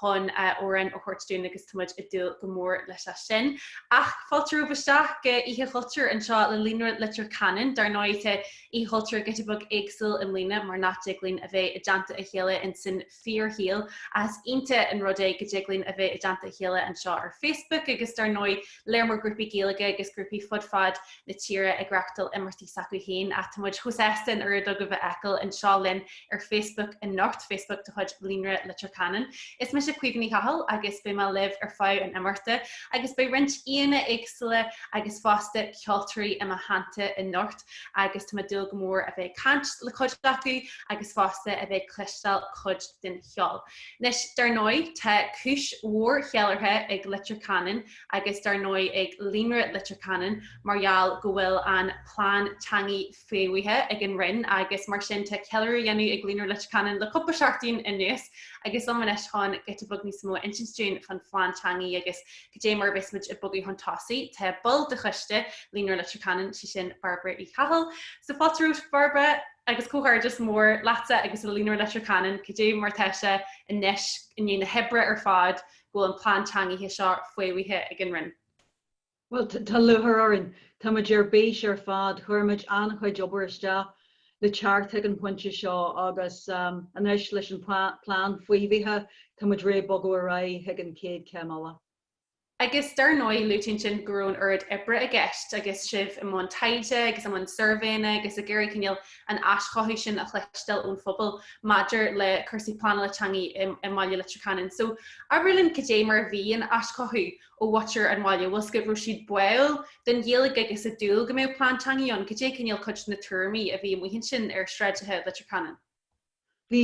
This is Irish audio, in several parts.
chun amhrán a thabhairt dúinn agus tá muid ag dúil go mór leis sin. Ach fáilte romhaibh isteach go Oíche Chultúir anseo le Líonra Leitir Ceanainn. Dar ndóigh tá Oíche Chultúir giota beag éagsúil i mbliana mar nach dtig linn a bheith i dteannta a chéile in san fíorshaol ach is iontach an rud é go dtig linn a bheith i dteannta a chéile anseo ar Facebook agus dar ndóigh lear mór grúpaí Gaeilge agus grúpaí fud fad na tíre ag reachtáil imeachtaí s'acu féin, ach tá muid chomh sásta an oiread agaibh a fheiceáil anseo linn ar Facebook anocht, Facebook de chuid Líonra Leitir Ceanainn. Is mise Caoimhe Ní Chathail agus beidh mé libh ar feadh an imeachta, agus beidh roinnt aíonna éagsúla agus fosta ceoltóirí i mo theannta anocht agus tá mé ag dúil go mór a bheith ag caint le cuid acu agus fosta a bheith ag cloisteáil cuid den cheol. Anois, dar ndóigh, tá cúis mhór cheiliúrtha ag Leitir Ceanainn agus dar ndóigh ag Líonra Leitir Ceanainn mar gheall go bhfuil an plean teangaidh faomhaithe ag an Roinn agus mar sin tá ceiliúradh á dhéanamh ag Líonra Leitir Ceanainn le cúpla seachtain anuas agus liom anois chun giota beag níos mó a insint dúinn fán phlean teangaidh agus cad é mar a bheas muid ag bogadh chun tosaigh. Tá ball de choiste Líonra Leitir Ceanainn, sé sin Bairbre Uí Chathail. So fáilte romhat, Bairbre! Agus comhghairdeas mór leatsa agus le Líonra Leitir Ceanainn, cad é mar tá sé anois i ndiaidh na hoibre ar fad go bhfuil an plean teangaidh seo faomhaithe ag an Roinn? Bhuel, tá lúchair orainn. Tá muid ar bís ar fad. Chuir muid an-chuid obair isteach le teacht chuig an phointe seo agus anois leis an plean faofaithe tá muid réidh bogadh ar aghaidh chuig an chéad céim eile. Agus dar ndóigh, luaigh tú ansin go raibh an oiread oibre i gceist agus sibh i mbun taighde agus i mbun suirbhéanna agus ag iarraidh cineál an aischothú sin a chloisteáil ón phobal maidir le cúrsaí pleanála teangaidh i mBaile Leitir Ceanainn. So, abair linn cad é mar a bhí an aischothú ó mhuintir an bhaile, bhfuil fhios agat go raibh siad báuil don Ghaeilge agus ag dúil go mbeadh plean teangaidh ann, cad é cineál cuid de na tuairimí a bhí amuigh ansin ar sráideacha Leitir Ceanainn? bhí,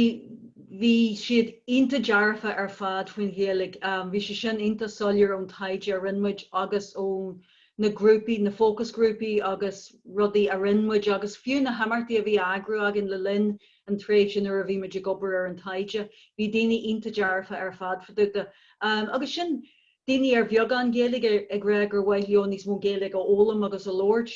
bhí siad iontach dearfa ar fad faoin Ghaeilge, em, bhí sé sin iontach soiléir ón taighde a rinne muid agus ó na grúpaí, na fócasghrúpaí agus rudaí a rinne muid agus fiú na himeachtaí a bhí á eagrú againn le linn an tréimhse nuair a bhí muid ag obair ar an taighde, bhí daoine iontach dearfa ar fad fá dtaobh de, em, agus sin daoine ar bheagán Gaeilge ag rá gur mhaith leo níos mó Gaeilge a fhoghlaim agus a labhairt.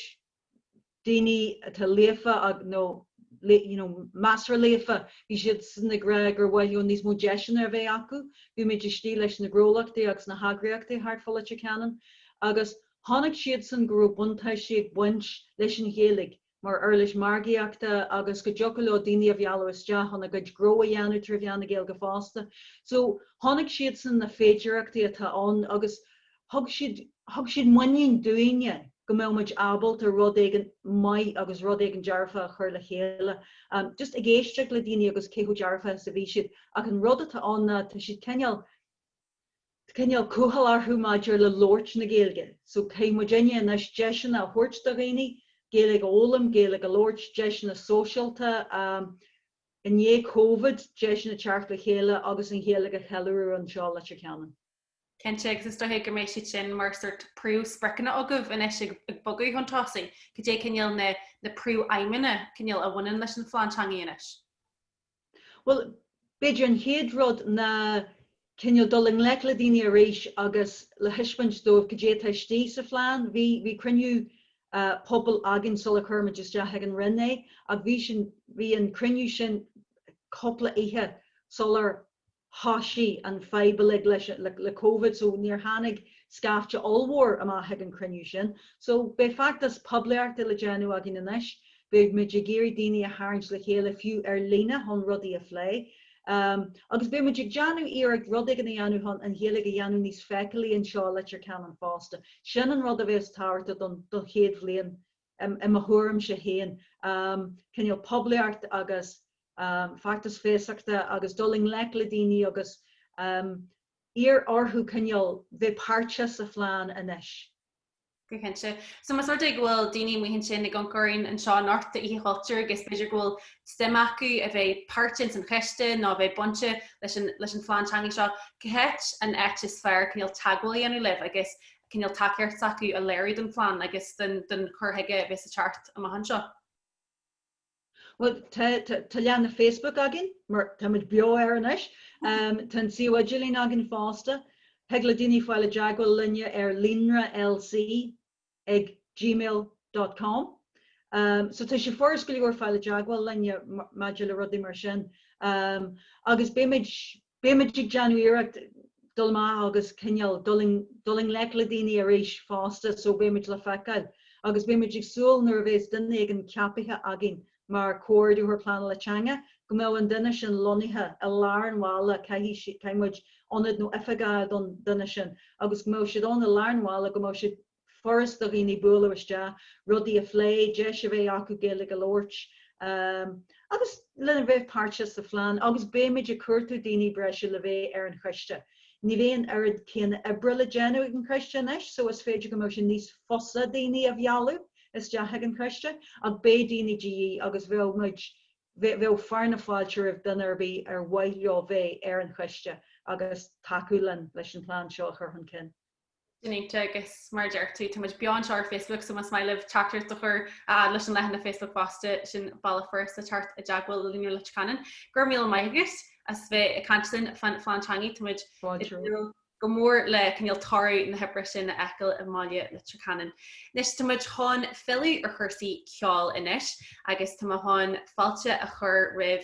daoine atá líofa nó you know measartha líofa, bhí siadsan ag rá gur mhaith leo níos mó deiseanna a bheith acu, bhí muid istigh leis na gnólachtaí agus na heagraíochtaí thart fá Leitir Ceanainn agus chonaic siadsan go raibh buntáistí ag baint leis an Ghaeilge mar uirlis margaíochta agus go dtiocfadh leo daoine a mhealladh isteach chun a gcuid gnó a dhéanamh trí mheán na Gaeilge fosta. So chonaic siadsan na féidearthachtaí atá ann agus Thug siad, thug siad muinín dúinne go mbeadh muid ábalta rud éigin maith agus rud éigin dearfach a chur le chéile. Just ag éisteacht le daoine agus cé chomh dearfach is a bhí siad. Ach an rud atá ann ná tá siad cineál, tá cineál cúthail orthu maidir le labhairt na Gaeilge. So caithfidh muidinne anois, deiseanna a thabhairt do dhaoine, Gaeilge a fhoghlaim, Gaeilge a labhairt, deiseanna sóisialta, i ndiaidh Covid, deiseanna teacht le chéile agus an Ghaeilge a cheiliúradh anseo i Leitir Ceanainn. Cinnte, agus is dóiche go mbeidh siad sin mar shórt príomh-spriocanna agaibh anois ag bogadh chun tosaigh. Cad é cineál na na príomh-aidhmeanna, cineál, a bhaineann leis an phlean teanga anois? Bhuel, b'fhéidir an chéad rud ná cineál dul i ngleic le daoine arís agus le taispeáint dóibh cad é atá istigh sa phlean. Bhí bhí cruinniú pobail againn sular chuir muid isteach ag an Roinn é, ach bhí, bhí an cruinniú sin cúpla oíche sular thosaigh an fhadhb uilig le, le Covid so níor tháinig scaifte ollmhór amach ag an chruinniú sin. So beidh feachtas poiblíochta le déanamh againn anois, beidh muid ag iarraidh daoine a tharraingt le chéile fiú ar líne chun rudaí a phlé. Agus beidh muid ag déanamh iarracht rud éigin a dhéanamh chun an Ghaeilge a dhéanamh níos feiceálaí anseo i Leitir Ceanainn fosta. Sin an rud a bheas tábhachtach don chéad bhliain i mo thuairimse féin, cineál poiblíocht agus feachtas feasachta agus dul i ngleic le daoine agus iarraidh orthu cineál bheith páirteach sa phlean anois. Go cinnte. So más rud é go bhfuil daoine amuigh ansin ag amharc orainn anseo ar Oíche Chultúir agus b'fhéidir go bhfuil suim acu a bheith páirteach ins an choiste nó a bheith bainte leis an phlean teanga seo, cá háit an áit is fearr cineál teagmháil a dhéanamh libh agus cineál tacaíocht s'acu a léiriú don phlean agus don chur chuige a bheas ag teacht amach anseo. Bhuel, tá leathanach Facebook againn, mar tá muid beo air anois. Tá an suíomh idirlín againn fosta. Thig le daoine fáil i dteagmháil linne ar Líonra LC ag gmail dot com. So tá sé furast go leor fáil i dteagmháil linne maidir le rudaí mar sin. Agus beimid Beidh muid ag déanamh iarracht dul amach agus cineál dul i ngleic le daoine arís fosta so beidh muid le feiceáil agus beidh muid ag súil nuair a bheas duine éigin ceapaithe againn mar Comhordaitheoir Pleanála Teanga go mbeadh an duine sin lonnaithe i lár an bhaile, caithfidh muid ionad nó oifig a fháil don duine sin agus go mbeadh siad ann i lár an bhaile, go mbeadh siad. furast do dhaoine bualadh isteach, rudaí a phlé, deis a bheith acu Gaeilge a labhairt agus lena bheith páirteach sa phlean agus beimid ag cuartú daoine breise le bheith ar an choiste. Ní bheidh an oiread céanna oibre le déanamh ag an choiste anois so is féidir go mbeidh sé níos fusa daoine a mhealladh isteach ag an choiste ach beidh daoine de dhíth agus bheadh muid, bheadh fear na fáilte roimh dhuine ar bith ar mhaith leo bheith ar an choiste agus tacú linn leis an plean seo a chur chun cinn. Sin iontach agus mar a deir tú, tá muid beo anseo ar Facebook, so más maith libh teachtaireacht a chur fhad leis an leathanach Facebook fosta, sin bealach fosta teacht i dteagmháil le Líonra Leitir Ceanainn. Go raibh míle maith agat as bheith ag caint linn faoin phlean teangaidh, tá muid ag súil go mór le cineál toradh na hoibre sin a fheiceáil i mbaile Leitir Ceanainn. Anois tá muid chun filleadh ar chúrsaí ceoil anois agus tá mé chun fáilte a chur roimh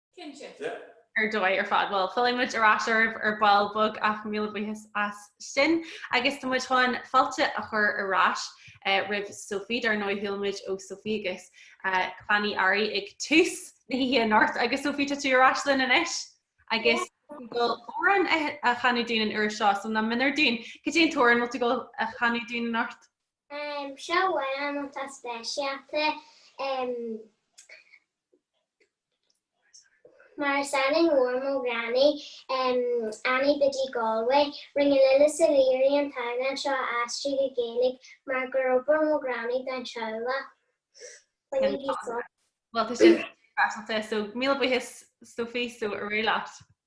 Cinnte. ar dóigh ar fad. Bhuel, fillfidh muid ar ais oraibh ar ball beag ach míle buíochas as sin. Agus tá muid chun fáilte a chur ar ais roimh Sophie, dar ndóigh, chuala muid ó Sophie agus clann Uí Fhearraigh ag tús na hoíche anocht. Agus Sophie, tá tú ar ais linn anois agus ag gabháil amhrán a chanadh dúinn an uair seo, so nach méanar dúinn. Cad é an t-amhrán a bhfuil tú ag gabháil a chanadh dúinn anocht? Seo amhrán atá speisialta Mar is ainm mhór mo ghranny, Annie Biddy Galway. Rinne Lillis Ó Laoire an t-amhrán seo a aistriú go Gaeilge mar gur oibir mo ghranny don teaghlach. When you be so. Bhuel, tá sé deas, so míle buíochas Sophie, so ar aghaidh leat.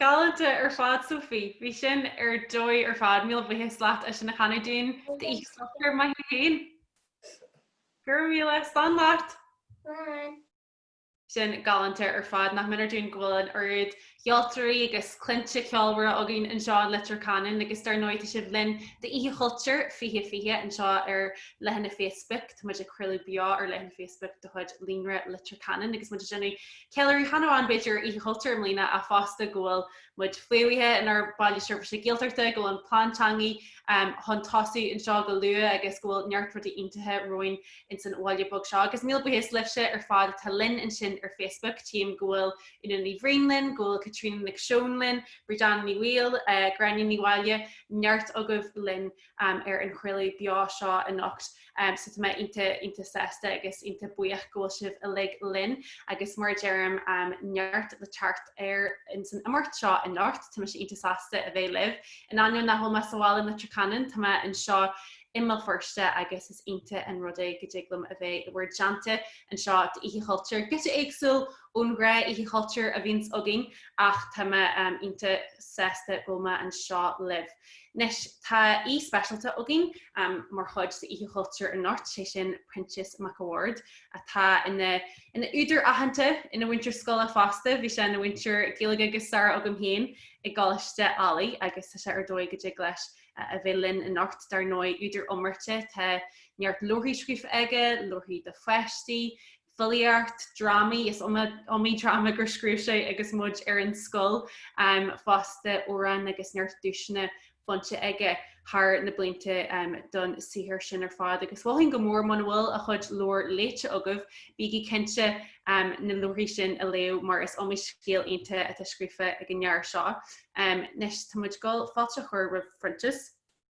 Galánta ar fad, Sophie. Bhí sin ar dóigh ar fad. Míle buíochas leat as sin a chanadh dúinn d'Oíche Chultúir maith thú féin. Go raibh míle. Slán leat. Slán. Sin galánta ar fad. Nach méanar dúinn go bhfuil an oiread ceoltóirí agus cluinte ceolmhara againn anseo in Leitir Ceanainn agus dar ndóigh tá sibh linn d'Oíche Chultúir 2020 anseo ar leathanach Facebook. Tá muid ag craoladh beo ar leathanach Facebook de chuid Líonra Leitir Ceanainn agus muid ag déanamh Ceiliúradh chan amháin, b'fhéidir, Oíche Chultúir i mbliana, ach fosta go bhfuil muid faomhaithe inár Baile Seirbhíse Gaeltachta, go bhfuil an plean teangaidh chun tosú anseo go luath agus go bhfuil neart rudaí iontacha romhainn ins an bhaile beag seo. Agus míle buíochas libhse ar fad atá linn ansin ar Facebook, tchím go bhfuil Úna Ní Bhraoin linn, go bhfuil Caitríona Nic Seoin linn, Bríd Anna Ní Bhaoill, Gráinne Ní Mháille, neart agaibh linn. ar an chraoladh beo seo anocht. So tá mé iontach, iontach sásta agus iontach buíoch go bhfuil sibh uilig linn. Agus mar a deirim, neart le teacht air ins an imeacht seo anocht. Tá mise iontach sásta a bheith libh. In ainneoin nach bhfuil mé sa bhaile in Leitir Ceanainn, tá mé anseo i mBéal Feirste agus is iontach an rud é go dtig liom a bheith i bhur dteannta anseo d'Oíche Chultúir, giota éagsúil! ón ghnáth-Oíche Chultúir a bhíonns againn ach tá mé iontach sásta go bhfuil mé anseo libh. Anois, tá aoi speisialta againn mar chuid d'Oíche Chultúir anocht, sé sin Proinsias Mac a' Bhaird, atá ina ina údar aitheanta, ina mhúinteoir scoile fosta, bhí sé ina mhúinteoir Gaeilge agus staire agam féin i gColáiste Ailigh agus tá sé ar dóigh go dtig leis a bheith linn anocht. Dar ndóigh, údar iomráite, tá neart leabharthaí scríofa aige, leabharthaí do pháistí, filíocht, drámaí, is iomaí dráma gur scríobh sé agus muid ar an scoil fosta, amhráin agus neart duaiseanna bainte aige thar na blianta don saothar sin ar fad. Agus mholfainn go mór, muna bhfuil a chuid leabhar léite agaibh, bígí cinnte na leabharthaí sin a léamh mar is iomaí scéal iontach atá scríofa ag an fhear seo. Anois, tá muid ag dul fáilte a chur roimh Phroinsias.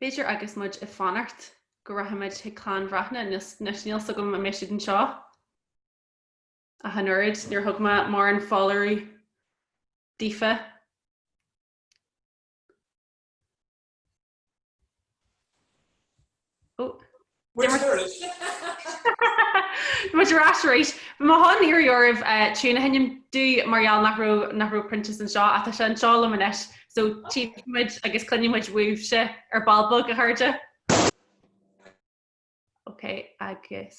B'fhéidir agus muid ag fanacht go rachaimid chuig Clann Bhreathnach anois, níl 's agam an mbeidh siad anseo ach an oiread, níor thug mé mórán foláireamh daofa. Oh. Muid ar ais arís. Bhí mé chun iarraidh oraibh eh, tiún a sheinm dúinn mar gheall nach raibh nach raibh Proinsias anseo, tá sé anseo liom anois so tchífidh muid agus cluinfidh muid uaibhse ar ball beag a chairde. Ok agus.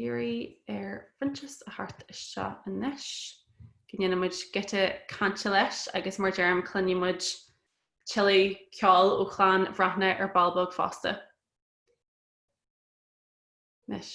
iarraidh ar Phroinsias a theacht isteach anois go ndéanfaidh muid giota cainte leis agus mar deirim cluinfidh muid tuilleadh ceoil ó chlann Bhreathnach ar ball beag fosta. Anois.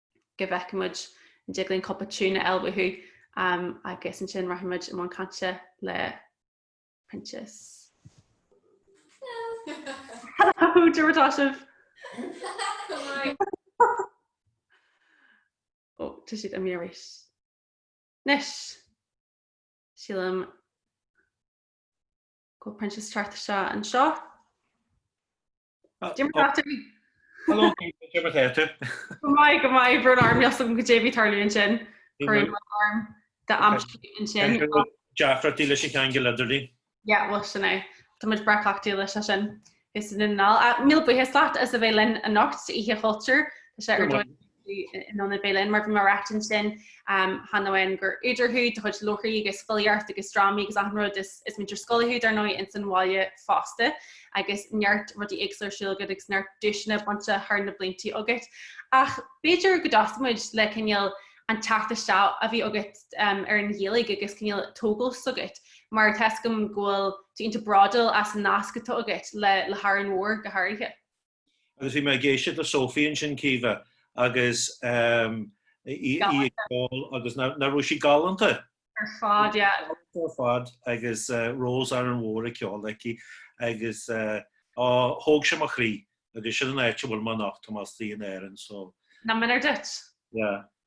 go bhfeicfidh muid an dtig linn cúpla tiún a fháil uathu agus ansin rachaidh muid i mbun cainte le Proinsias. Hello, cad é mar atá sibh? Go maith. Ó, tá siad imithe arís. Anois, sílim go bhfuil Proinsias thart anseo. Go maith go maith brón orm níl 's agam goidé a bhí ag tarlú ansin chuir arm de am ansin. Deacrachtaí leis an cheangal idirlín. Yeah, bhuel sin é. Tá muid breá cleachtaithe leis sin anseo i nDún na nGall. Míle buíochas leat as a bheith linn anocht, Oíche Chultúir. Tá sé ar in ann a bheith linn. Mar a bhí mé ag ráit ansin cheana féin gur údar thú de chuid leabharthaí agus filíocht agus drámaí agus achan rud, is múinteoir scoile thú, dar ndóigh, ins an bhaile fosta, agus neart rudaí éagsúla ar siúl agat agus neart duaiseanna bainte thar na bliantaí agat. Ach b'fhéidir go dtosóidh muid le cineál an teacht isteach a bhí agat ar an Ghaeilge agus cineál tógáil s'agat, mar tá a fhios agam go bhfuil tú iontach bródúil as an nasc atá agat le hÁrainn Mhór go háirithe. Agus bhí mé ag éisteacht le Sophie ansin Caoimhe agus ehm, í ag ceol agus nach raibh sí galánta. Ar fad, yeah. Ar fad agus eh, Rós Árainn Mhór á cheol aici agus eh, thóg sé mo chroí agus sin an áit a bhfuil mé anocht, tá mé istigh in Árainn so. Nach méanar duit? Yeah.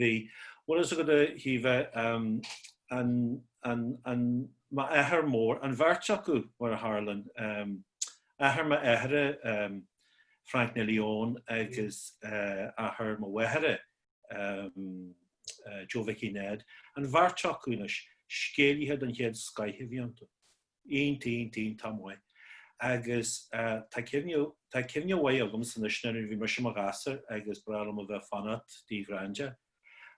Bhí. Bhfuil fhios agat, a Shiva, an, an, an, m'athair mór, an bheirt acu, mar a tharlann, athair m'athara, Frank Neilí Eoin agus athair mo mháthara, Joe Mhicí Ned, an bheirt acu, anois, scéalaithe den chéad scoith a bhí iontu. Iontach, iontach maith. Agus tá cuimhne, tá cuimhne mhaith agamsa anois nuair a bhí mise i mo ghasúr agus ba bhreá liom a bheith ag fanacht tigh Granda.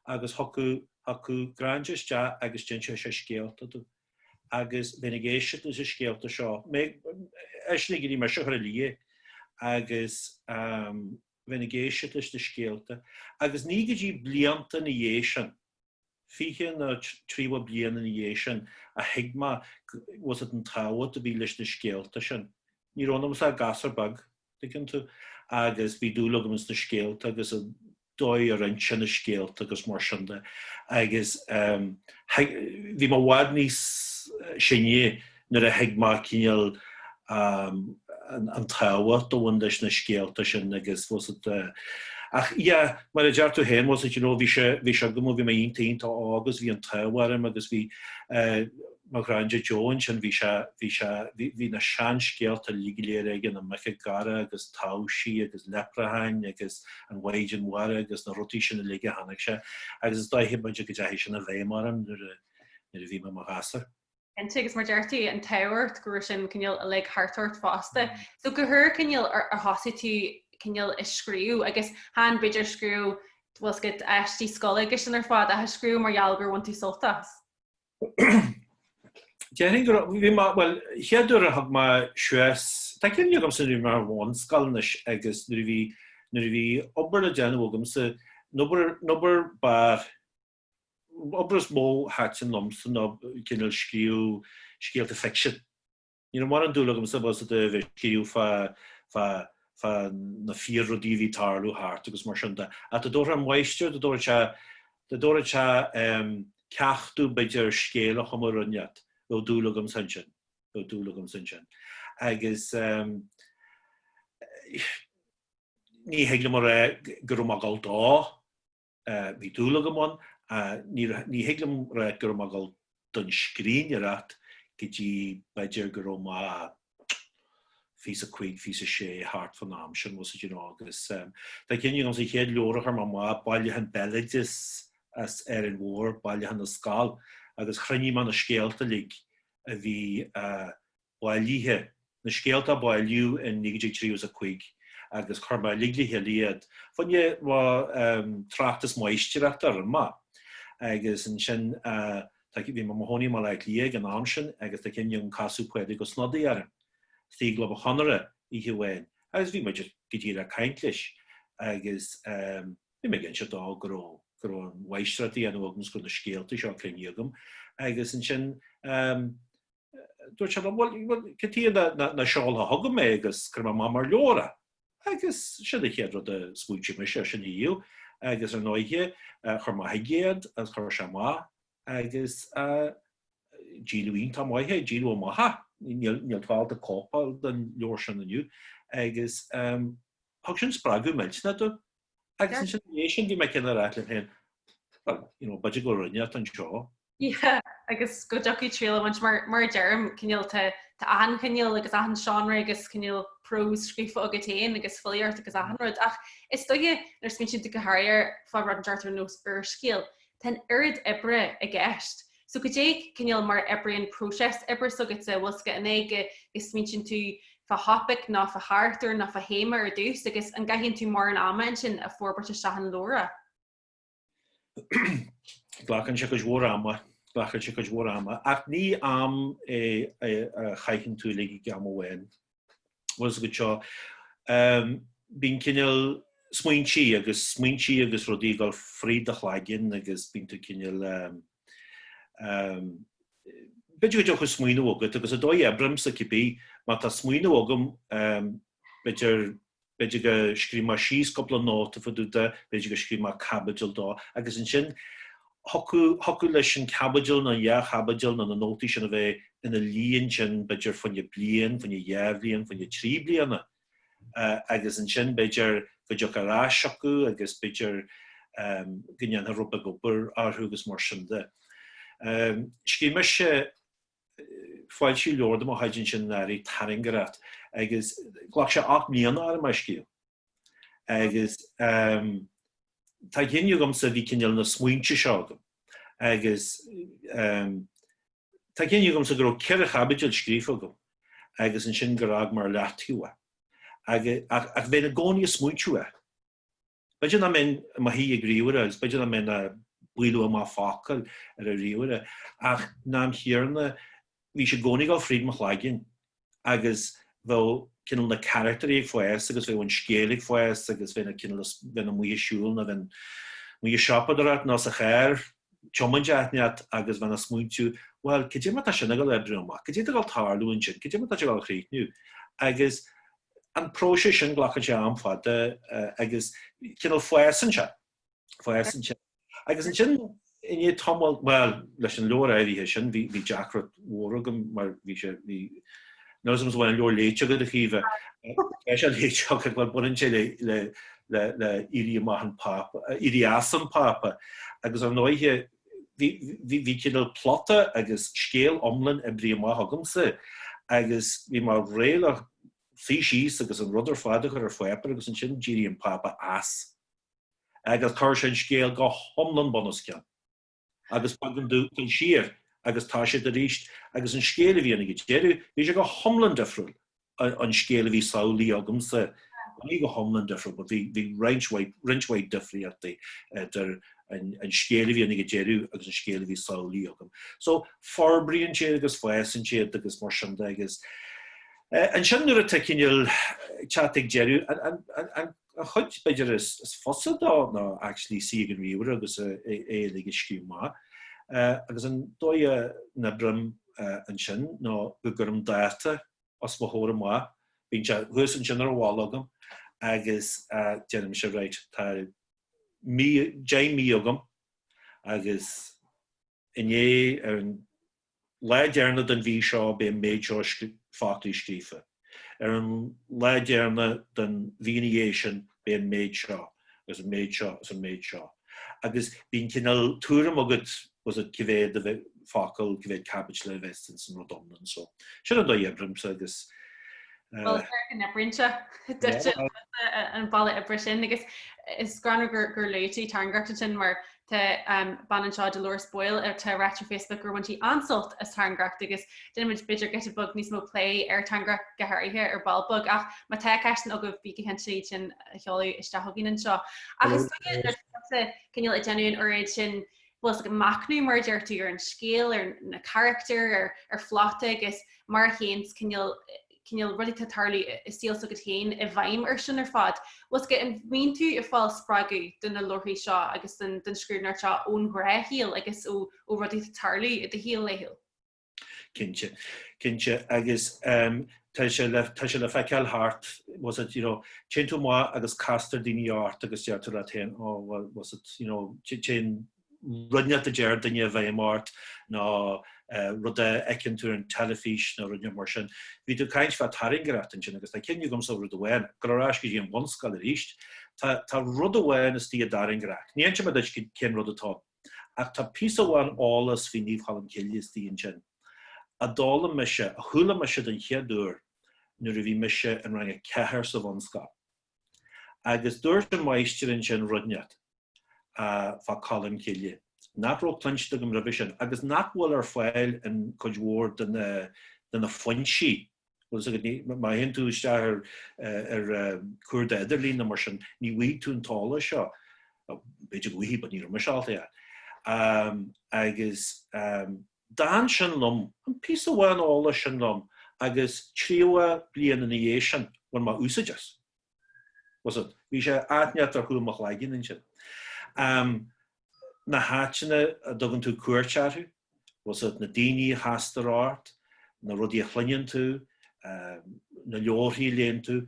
Agus thiocfadh, thiocfadh Granda isteach agus d'inseodh sé scéalta dom. Agus bheinn ag éisteacht leis na scéalta seo. Mé, eisean ag iarraidh mise a chur a luí. Agus, bheith ag éisteacht leis na scéalta agus ní go dtí blianta ina dhiaidh sin, fiche nó tríocha bliain ina dhiaidh sin, a thuig mé bhfuil fhios agat an tábhacht a bhí leis na scéalta sin. Ní raibh ionamsa ach gasúr beag, an dtuigeann tú, agus bhí dúil agam sna scéalta agus an dóigh a roinntí na scéalta agus mar sin de agus bhí mé i bhfad níos sine. Nuair a thuig mé cineál an tábhacht a bhain leis na scéalta sin agus bhfuil fhios agat ach yeah mar a deir tú féin bhfuil fhios agat you know bhí sé bhí sé agam ó bhí mé iontach iontach óg agus bhí an t-ádh orm agus bhí mo ghranda Joe ansin bhí sé bhí sé bhí na seanscéalta uilig go léir aige na muice gaire agus taibhsí agus leipreacháin agus an mhaighdean mhara agus na rudaí sin uilig a tháinig sé agus is dóiche b'fhéidir go ndeachaidh sin i bhfeidhm orm nuair a nuair a bhí mé i mo ghasúr. cinnte agus mar deir tú an t-ádh ort go raibh sin cineál uilig thart ort fosta. So cá huair cineál ar ar thosaigh tú cineál ag scríobh agus chan b'fhéidir scríobh bhfuil fhios agat aistí scoile agus sin ar fad ach scríobh mar gheall gur bhain tú sult as? Déarfainn go raibh, bhí mé, bhuel, chéad uair a thug mé suas, tá cuimhne agamsa nuair a bhí mé ar an bhunscoil anois agus nuair a bhí, nuair a bhí obair le déanamh agamsa, an obair, an obair ab fhearr, Obair is mó a thaitin liomsa ná cineál scríobh scéalta ficsin. Ní raibh mórán dúil agamsa bhfuil fhios agat a bheith ag scríobh fá na fíor-rudaí a bhí ag tarlú thart agus mar sin de. Ach dá dtabharfadh an máistir, dá dtabharfadh sé ceacht domh b'fhéidir ar scéal a chumadh nó rud ineacht, bheadh dúil agamsa ansin, bheadh dúil agamsa ansin. Agus ní thig liom a rá go raibh mé ag dul dó. Bhí dúil agam ann. Ní thig liom a rá go raibh mé ag dul don scríbhneoireacht go dtí b'fhéidir go raibh mé fiche a cúig, fiche a sé, thart fán am sin, bhfuil fhios agat, you know, agus tá cuimhne agamsa an chéad leabhar a chuir mé amach, bailiúchán béaloidis as Árainn Mhór, Bailiúchán na Scol, agus chruinnigh mé na scéalta uilig a bhí bailithe, na scéalta a bailíodh in 1935 agus chuir mé uilig le chéile iad. Fá choinne mo thráchtas máistreachta a rinne mé é agus ansin bhí mé i mo chónaí i mBaile Átha Cliath ag an am sin agus tá cuimhne agam casadh Pádraig Ó Snodaigh orm i gClub an Chonartha oíche amháin agus bhí mé go díreach ag caint leis agus bhí mé ag inse dó go raibh an mháistreacht á dhéanamh agam agus go raibh na scéalta seo cruinnithe agam agus ansin dúirt sé, Bhuel, cad chuige nach seolfá chugam é agus cuirfidh mé amach mar leabhar é. Agus sin an chéad rud a smaointigh mise, ar sin a dhéanamh. Agus ar ndóighe, chuir mé chuige iad agus chuir sé amach é agus díoladh iontach maith é, díoladh amach é. Níl fáil ar chóipeanna den leabhar sin inniu. Agus thug sin spreagadh millteanach dom. Agus ansin, tar éis sin, bhí mé cineál a' rá liom féin, Bhuel, you know, b'fhéidir go bhfuil rud inteacht anseo Agus go dtiocfadh triail a bhaint, mar a deirim, cineál, tá achan chineál agus achan seánra agus cineál próis scríofa agat féin agus filíocht agus achan rud. Ach is dóiche, nuair a smaointíonn tú go háirithe fá rud inteacht ar nós úrscéal, tá an oiread oibre i gceist. So goidé cineál mar a oibríonn próiseas oibre s'agatsa, bhfuil a fhios agat, an é go smaointeann tú fá thopaic ná fá charachtar ná fá théama ar dtús agus an gcaitheann tú mórán ama ansin á fhorbairt isteach ina leabhar. Glacann sé cuid mhór ama, glacann sé cuid mhór ama, ach ní am é a chaitheann tú uilig ag am amháin. Bhfuil a fhios agat, so, bíonn cineál smaointí agus smaointí agus rudaí ag dul fríd do chloigeann agus bíonn tú cineál, b'fhéidir go dtiocfadh smaoineamh chugat, agus an dóigh a n-oibrímse, cibé, má tá smaoineamh agam, b'fhéidir B'fhéidir go scríobhfaidh mé síos cúpla nóta fá dtaobh de, b'fhéidir go scríobhfaidh mé caibidil dó, agus ansin thiocfadh leis an caibidil nó an dhá chaibidil nó na nótaí sin a bheith ina luí ansin b'fhéidir fá choinne bliain, fá choinne dhá bhliain, fá choinne trí bliana. Agus ansin b'fhéidir go dtiocfadh ar ais chucu agus b'fhéidir go ndéanfadh rud beag obair orthu agus mar sin de. Scríobh mise Foilsíodh leabhar de mo chuid ansin anuraidh, Tairngreacht agus ghlac sé ocht mbliana orm é a scríobh. Agus tá cuimhne agamsa, bhí cineál na smaointe seo agam agus tá cuimhne agamsa go raibh ceithre chaibidil scríofa agam agus ansin gur fhág mé ar leataobh é. Ach bheinn i gcónaí ag smaointiú air. B'fhéidir nach mbeinn i mo shuí ag ríomhaire agus b'fhéidir nach mbeinn ag bualadh amach focal ar an ríomhaire ach san am chéanna bhí sé i gcónaí ag dul fríd mo chloigeann agus bheadh cineál na carachtairí ag fás agus bheadh an scéal ag fás agus bheinn cineál, bheinn amuigh ag siúl nó bheinn amuigh ag siopadóireacht nó sa charr, tiomáint áit inteacht agus bheinn ag smaointiú, bhuel, cad é mar tá sin ag dul a oibriú amach, cad é atá ag dul tarlú ansin, cad é mar tá sé ag dul a chríochnú agus An próiseas sin, glacann sé am fada agus cineál fásann sé, fásann sé. Agus ansin, i ndiaidh tamaill, bhuel, leis an leabhar áirithe sin, bhí, bhí deacracht mhór agam, mar bhí sé, bhí, níl fhios agam an bhfuil an leabhar léite agat, a Chaoimhe, tá sé léite agat, bhuel, baineann sé le, le, le, le éirí amach an Pápa, éirí as an Pápa, agus, ar ndóighe, Bhí cineál plota agus scéal iomlán oibrithe amach agamsa agus bhí mé réidh le suí síos agus an rud ar fad a chur ar pháipéar agus ansin d'éirigh an Pápa as agus chuir sé an scéal go hiomlán bunoscionn agus b'éigean domh dul siar agus toiseacht arís agus an scéal a bhí ann ag an deireadh, bhí sé go hiomlán difriúil ón scéal a bhí samhlaithe agamsa, ní go hiomlán difriúil, but bhí roinnt mhaith, roinnt mhaith difríochtaí idir an scéal a bhí ann ag an deireadh agus an scéal a bhí samhlaithe agam. So, forbraíonn sé agus fásann sé agus mar sin de agus ansin nuair atá cineál teacht chuig deireadh, an, an, an, An chuid b'fhéidir is fusa dó ná actually suí ag an ríomhaire agus é uilig a scríobh amach. Agus an dóigh a n-oibrím ansin ná go gcuirim dáta os mo chomhair amach, bíonn sé thuas ansin ar an bhalla agam, agus deirimse right, tá mí, deich mí agam agus i ndiaidh, ar an, lá deireanach den mhí seo beidh an méid seo foclaí scríofa. Ar an lá deireanach den mhí ina dhiaidh sin beidh an méid seo, agus an méid seo, agus an méid seo. Agus bíonn cineál tuairim agat, bhfuil fhios agat, cá mhéad focal, cá mhéad caibidil a bheas ins an rud iomlán. So, sin an dóigh a n-oibrímse agus. Bhuel, is dóigh go n-oibríonn sé duit an bealach oibre sin. Agus is greannmhar gur luaigh tú tairngreacht ansin, mar Tá bean anseo, Dolores Boyle, atá ráite ar Facebook gur bhain sí an-sult as tairngreacht agus déanfaimid b'fhéidir giota beag níos mó plé ar tairngreacht go háirithe ar ball beag ach má tá ceisteanna agaibh bígí cinnte iad sin a sheoladh isteach chugainn anseo. Ach is dóigh liom gur furasta cineál ag déanamh an oiread sin bhfuil fhios agat machnamh, mar a deir tú, ar an scéal, ar na carachtair, ar phlota agus mar a théanns cineál cineál rudaí atá tarlú i saol s'agat féin i bhfeidhm air sin ar fad. 'Bhfios agat an mbíonn tú ag fáil spreagadh do na leabharthaí seo agus don scríbhneoireacht seo ón ghnáthshaol agus ó rudaí atá tarlú i do shaol laethúil? Cinnte. Cinnte. Agus ehm, tá sé le tá sé le feiceáil thart tá fhios agat you know téann tú amach agus castar daoine ort agus deir tú leat féin ó oh, well tá fhios agat you know téann rud inteacht a deir duine i bhfeidhm ort nó rud a fheiceann tú ar an teilifís nó rud inteacht mar sin. Bhí tú ag caint fá tairngreacht ansin agus tá cuimhne agamsa rud amháin, ag dul ar ais go dtí an bhunscoil arís. Tá tá rud amháin istigh i dTairngreacht. Ní inseoidh mé duit cén rud atá ann. Ach tá píosa amháin eolais faoi Naomh Cholm Cille istigh ansin a d'fhoghlaim mise, a chuala mise den chéad uair nuair a bhí mise in rang a ceathair sa bhunscoil. Agus dúirt an máistir ansin rud inteacht. fá Cholm Cille, nach raibh cluinte agam roimhe sin agus nach bhfuil ar fáil in cuid mhór de na foinsí, má théann tú isteach ar chuardach idirlín nó mar sin, ní bhfaighidh tú an t-eolas seo, b'fhéidir go bhfaighidh but ní raibh mise ábalta é a agus d'fhan sin liom, an píosa amháin eolais sin liom agus tríocha bliain ina dhiaidh sin, bhain mé úsaid as. Tá fhios agat bhí sé áit inteacht ar chúl mo chloigeann ansin. Um, na háiteanna a dtugann tú cuairt orthu, tá fhios agat na daoine a chastar ort, na rudaí a chluineann tú, um, na leabharthaí a léann tú,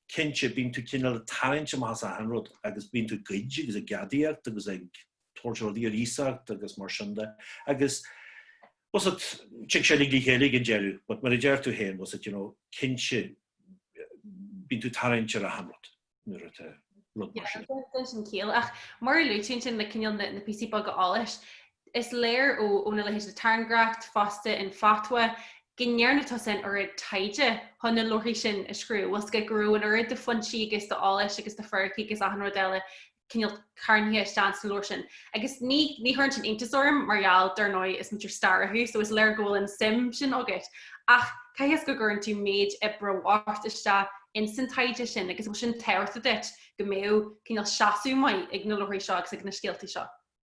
cinnte bíonn tú cineál ag tarraingt amach as achan rud agus bíonn tú ag goid agus ag gadaíocht agus ag tabhairt ar iar iasacht agus mar sin de agus tá fhios agat tig sé uilig le chéile ag an deireadh but mar a deir tú féin tá fhios agat you know cinnte bíonn tú ag tarraingt ar achan rud nuair atá rud mar sin. Yeah, déanann sin ciall. Ach mar a luaigh tú ansin le cineál na, na píosaí beaga eolais, is léir ó, ó na leithéid de Tairngreacht fosta in Fatwa go ndearna tú an oiread taighde chun na leabharthaí sin a scríobh, 'bhfios agat go raibh an oiread de fhoinsí agus d'eolais agus d'fhíricí agus achan rud eile cineál carnaithe isteach sa leabhar sin. Agus ní chuireann sin iontas orm mar gheall, dar ndóigh, is múinteoir staire thú, so is léir go bhfuil an suim sin agat. Ach caithfidh sé go gcuireann tú méid oibre bocht isteach ins an taighde sin agus bhfuil sin tábhachtach duit go mbeadh cineál seasamh maith ag na leabharthaí seo agus ag na scéaltaí seo.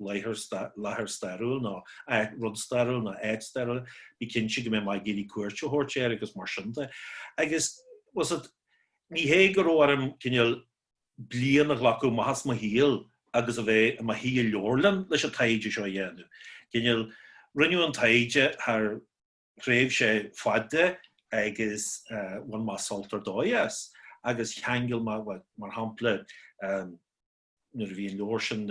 láthair stairiúil nó áit, rud stairiúil nó áit stairiúil, bí cinnte go mbeidh mé ag iarraidh cuairt a thabhairt air agus mar sin de. Agus tá fhios agat, ní hé go raibh orm cineál bliain a ghlacadh amach as mo shaol agus a bheith i mo shuí i leabharlann leis an taighde seo a dhéanamh. Cineál, rinneadh an taighde thar thréimhse fada agus bhain mé sult ar dóigh as agus cheangail mé, mar shampla, nuair a bhí an leabhar sin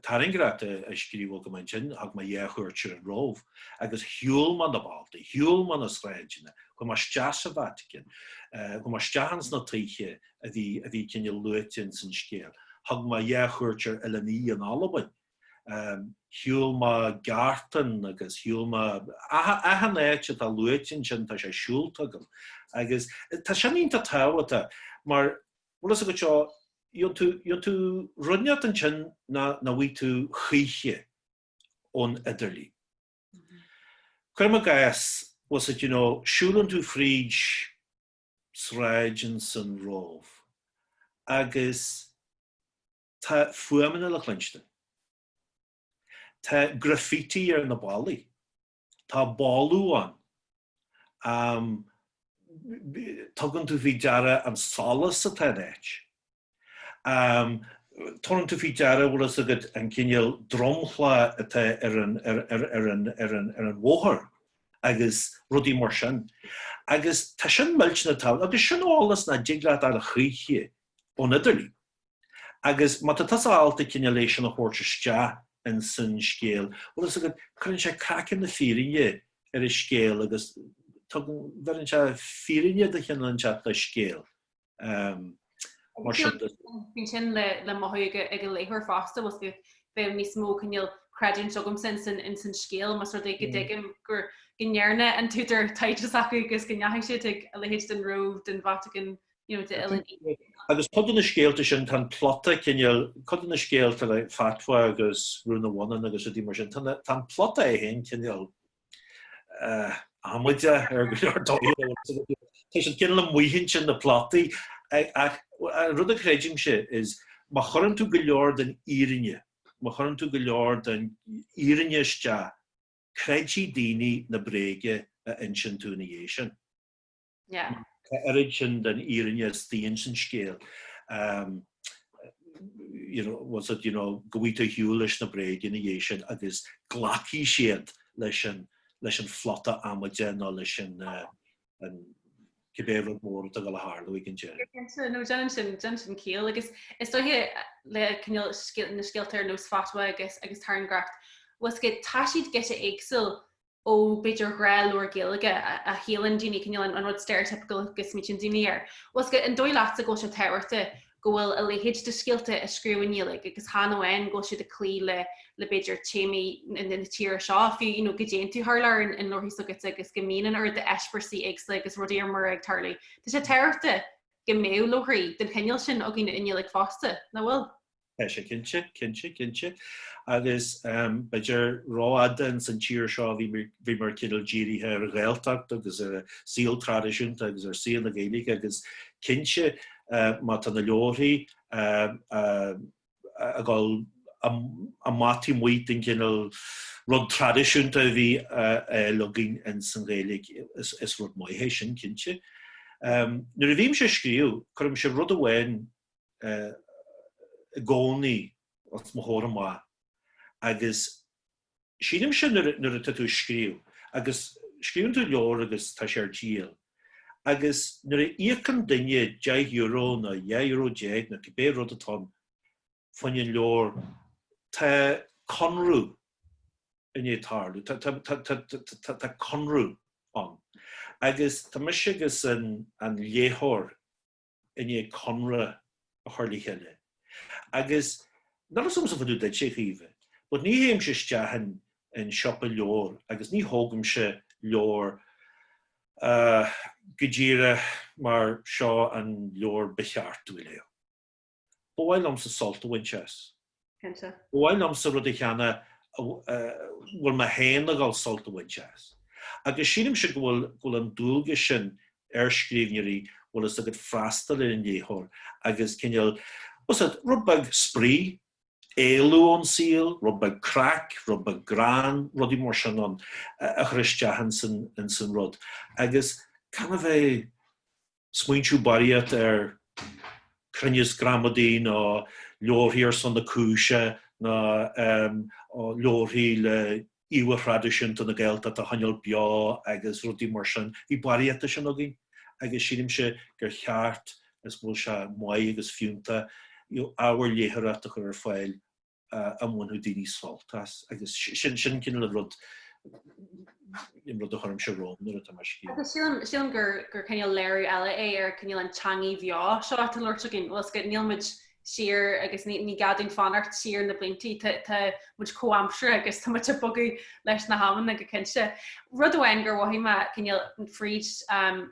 Tairngreacht á scríobh agam ansin, thug mé dhá chuairt ar an Róimh, agus shiúil mé na bealtaí, shiúil mé na sráideanna, chuaigh mé isteach sa Vatican, chuaigh mé isteach ins na tithe a bhí a bhí cineál luaite ins an scéal, thug mé dhá chuairt ar Oileán Í in Albain, shiúil mé Gartán agus shiúil mé achan áit atá luaite ansin, tá sé siúlta agam. Agus tá sin iontach tábhachtach, mar bhfuil fhios agat seo, tchíonn tú, tchíonn tú rud inteacht ansin nach nach bhfaighidh tú choíche ón idirlíon. Cuirim i gcás, bhfuil fhios agat, you know, siúlann tú fríd sráid ins an Róimh, agus Tá fuaimeanna le cluinstin. Tá graffiti ar na ballaí. Tá boladh ann. Am. Tugann tú faoi deara an solas atá in áit. Am. Tugann tú faoi deara, bhfuil fhios agat, an cineál dromchla atá ar an, ar, ar, ar an, ar an, ar an bhóthar agus rudaí mar sin. Agus tá sin millteanach tábhachtach, agus sin eolas nach dtig leat a fháil choíche ón idirlíon. Agus má tá tusa ábalta cineál é sin a thabhairt isteach ins san scéal, bhfuil fhios agat, cuireann sé craiceann na fírinne ar an scéal agus tugann, bheireann sé fírinne de chineál inteacht don scéal mar sin de. Bíonn sin le mothú ag an léitheoir fosta, bhfuil fhios agat, bheadh níos mó cineál creidiúint agamsa ins an scéal, más rud é go dtuigim gur, go ndearna an t-údar taighde s'acu agus go ndeachaigh siad chuig a leithéid den Róimh, den Vatican, Agus cuid de na scéalta sin, tá an plota cineál, cuid de na scéalta le Fatwa agus Rún an Bhonnáin agus rudaí mar sin, tá an plota é féin cineál amaideach ar go leor dóigheanna. Tá siad cineál amuigh ansin na plotaí ach an rud a creidimse is má chuireann tú go leor den fhírinne, má chuireann tú go leor den fhírinne isteach, creidfidh daoine na bréaga a insionn tú ina dhiaidh sin. oiread sin den fhírinne isteach ins an scéal, bhfuil fhios agat, you know, go bhfaighidh tú ar shiúl leis na bréaga ina dhiaidh sin agus glacfaidh siad leis an, leis an phlota amaideach nó leis an, an, cibé rud mór atá ag gabháil a tharlú ag an deireadh. Go cinnte, nó déanann sin, déanann sin ciall. Agus is dóiche le cineál na scéalta ar nós Fatwa agus, agus Tairngreacht, bhfuil fhios agat, tá siad giota éagsúil ó b'fhéidir gnáthleabhar Gaeilge a shíleann daoine cineál an rud stereotypical go smaoitíonn daoine air, bhfuil fhios agat. An dóigh leatsa go bhfuil sé tábhachtach go bhfuil a leithéid de scéalta á scríobh i nGaeilge agus chan amháin go bhfuil siad ag cloí le le b'fhéidir téamaí na tíre seo, fiú you know go dtéann tú thar lear in leabharthaí s'agatsa agus go mbíonn an oiread d'eispéireasaí éagsúla agus rudaí ar mire ag tarlú. Tá sé tábhachtach go mbeadh leabharthaí den chineál sin againn i nGaeilge fosta, nach bhfuil? Tá sé cinnte, cinnte, cinnte. Agus b'fhéidir rófhada ins an tír seo bhíomar cineál dírithe ar an Ghaeltacht agus ar an saol traidisiúnta agus ar saol na Gaeilge agus cinnte má tá na leabharthaí ag dul amach taobh amuigh den chineál rud traidisiúnta a bhí againn ins an Ghaeilge, is rud maith é sin cinnte. Nuair a bhímse ag scríobh, cuirimse rud amháin i gcónaí os mo chomhair amach agus sílimse nuair atá tú ag scríobh agus scríobhann tú leabhar agus tá sé ar díol agus nuair a íocann duine deich euro nó dhá euro déag nó cibé rud atá ann fá choinne an leabhar tá conradh i ndiaidh tarlú, tá conradh ann. Agus tá mise agus an léitheoir i ndiaidh conradh a chur le chéile agus níl fhios agamsa fá dtaobh duitse, a Chaoimhe, but ní théimse isteach in siopa leabhar agus ní thógaimse leabhar go díreach mar seo an leabhar ba cheart dom a léamh. Ba mhaith liomsa sult a bhaint as. Cinnte. Ba mhaith liomsa rud a cheannach a bhfuil mé féin ag dul sult a bhaint as. Agus sílimse go bhfuil go bhfuil an dualgas sin ar scríbhneoirí bhfuil fhios agat freastal ar an léitheoir agus cineál, fhios agat, rud beag spraoi, éalú ón saol, rud beag craic, rud beag greann, rudaí mar sin ann a chur isteach ins an rud. Agus gan a bheith. smaointeamh barraíocht ar chruinneas gramadaí ná leabharthaí ar son na cúise ná leabharthaí le íomha thraidisiúnta na Gaeltachta a choinneáil beo agus rudaí mar sin. Bhí barraíocht de sin againn agus sílimse gur cheart, is go bhfuil sé maith agus fiúnta, you know, ábhar léitheoireachta a chur ar fáil. a mbainfeadh daoine sult as, agus sin an cineál an rud, an rud a chuirimse romham nuair atá mé ag scríobh. Agus sílim gur cineál léiriú eile é ar cineál an teangaidh bheo seo atá á labhairt againn, bhfuil fhios agat, níl muid siar agus ní gá dúinn fanacht siar na blianta, tá muid comhaimseartha agus tá muid ag bogadh leis na hamanna go cinnte. Rud amháin gur mhothaigh mé cineál fríd,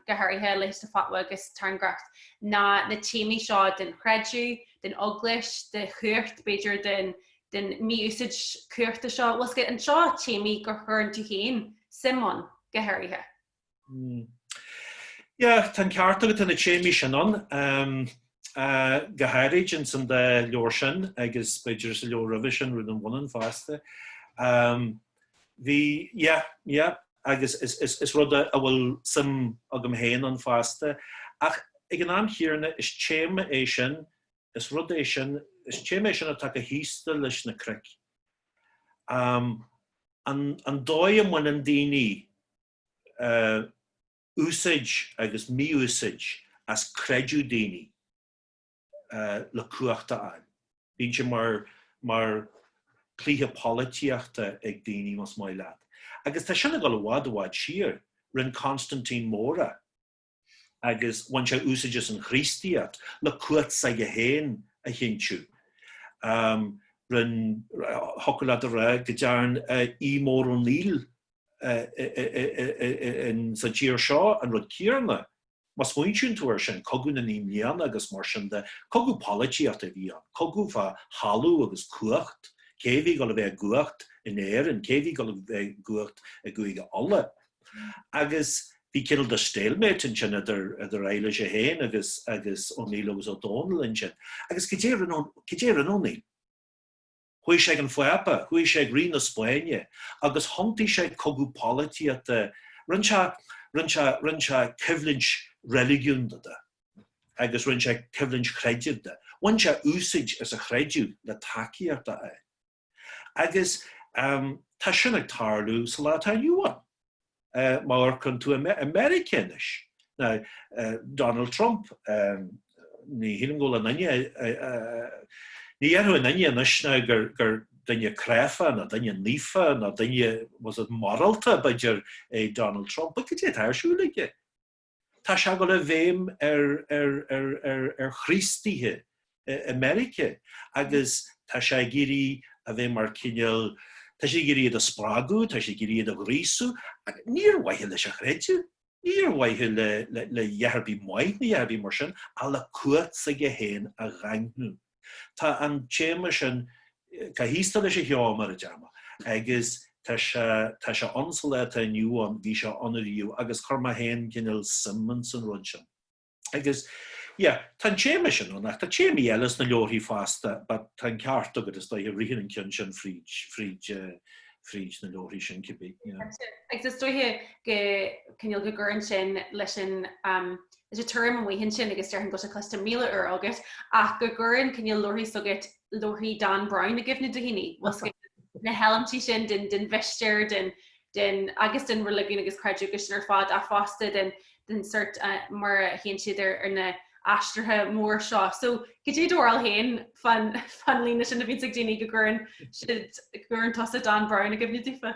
go háirithe, leithéidí Fatwa agus Tairngreacht ná na téamaí seo den chreideamh, den Eaglais, de chumhacht, b'fhéidir, den mí-úsáid cumhachta seo. Is iad seo téamaí gur chuir tú féin suim ann, go háirithe. Yeah, tá an ceart agat tá na téamaí sin ann. Um, uh, go háirid insan dá leabhar sin agus b'fhéidir sa leabhar roimhe sin Rún an Bhonnáin fosta. Um, the, yeah, yeah, agus is rud a bhfuil suim agam féin ann fosta, ach ag an am chéanna, is téama é sin, is rud é sin, is téama é sin atá chomh haosta leis na cnoic. An dóigh a mbaineann daoine úsáid agus mí-úsáid as creideamh daoine. le cumhacht a fháil. Bíonn sé mar, mar chluiche polaitíochta ag daoine, más maith leat. Agus tá sin ag dul i bhfad, i bhfad siar. Rinne Constantine Mór é. Agus bhain sé úsáid as an Chríostaíocht le cumhacht s'aige féin a chinntiú. Rinne, thiocfadh leat a rá go dtearn Aodh Mór Ó Néill insa tír seo an rud céanna. Má smaointíonn tú ar sin, Cogadh na Naoi mBliana agus mar sin de, cogadh polaitíochta a bhí ann, cogadh fá thalamh agus cumhacht, cé a bhí dul a bheith i gcumhacht in Éirinn, cé a bhí dul a bheith i gcumhacht i gCúige Uladh. Agus bhí cineál de stalemate ansin idir Eilís í féin agus agus Ó Néill agus Ó Dónaill ansin. Agus cad é a rinne Ó Néill? Chuaigh sé ag an Phápa, chuaigh sé ag Rí na Spáinne agus thiontaigh sé cogadh polaitíochta, rinne sé, rinne sé, rinne sé coimhlint reiligiúnda de agus rinne sé coimhlint chreidimh de, bhain sé úsáid as an chreideamh le tacaíocht a fháil. Agus tá sin ag tarlú sa lá atá inniu ann. má amharcann tú i Meiriceá anois. Now, Donald Trump, ní shílim go bhfuil aon duine, ní dhéarfadh aon duine anois gur duine cráifeach ná duine naofa ná duine, was it morálta, b'fhéidir, é Donald Trump, but cad é atá ar siúl aige. Tá sé ag dul i bhfeidhm ar Chríostaithe i Meiriceá agus tá sé ag iarraidh a bheith mar cineál, tá sé ag iarraidh iad a spreagadh, tá sé ag iarraidh iad a ghríosú ach ní ar mhaithe leis an chreideamh, ní ar mhaithe le a dhath ar bith maith nó a dhath ar bith mar sin, ach le cumhacht s'aige féin a dhaingniú. Tá an téama sin, chomh haosta leis an cheo, mar a déarfá, agus tá sé, tá sé ann sa lá atá inniu ann, bhí sé ann ariamh agus chuir mé féin cineál suim insan rud sin. Agus, yeah, tá an téama sin ann ach tá téamaí eile sna leabharthaí fosta but tá an ceart agat, is dóiche, ritheann an ceann sin fríd, fríd eh, fríd na leabharthaí sin cibé. Agus is dóiche go cineál go gcuireann sin leis an um, Is é tuairim amuigh ansin, agus déarfainn go bhfuil sé cloiste míle uair agat, ach go gcuireann cineál leabharthaí s'agat leabharthaí Dan Brown i gcuimhne do dhaoine, bhfuil fhios agat na heilimintí sin den mhistéir, den, agus den reiligiún agus creideamh sin ar fad ach fosta den sort mar a théann siad ar na haistrithe mór seo. So, caidé do bharúil féin fán líne sin a bhíonns ag daoine go gcuireann siad, go gcuireann tusa Dan Brown i gcuimhne daofa?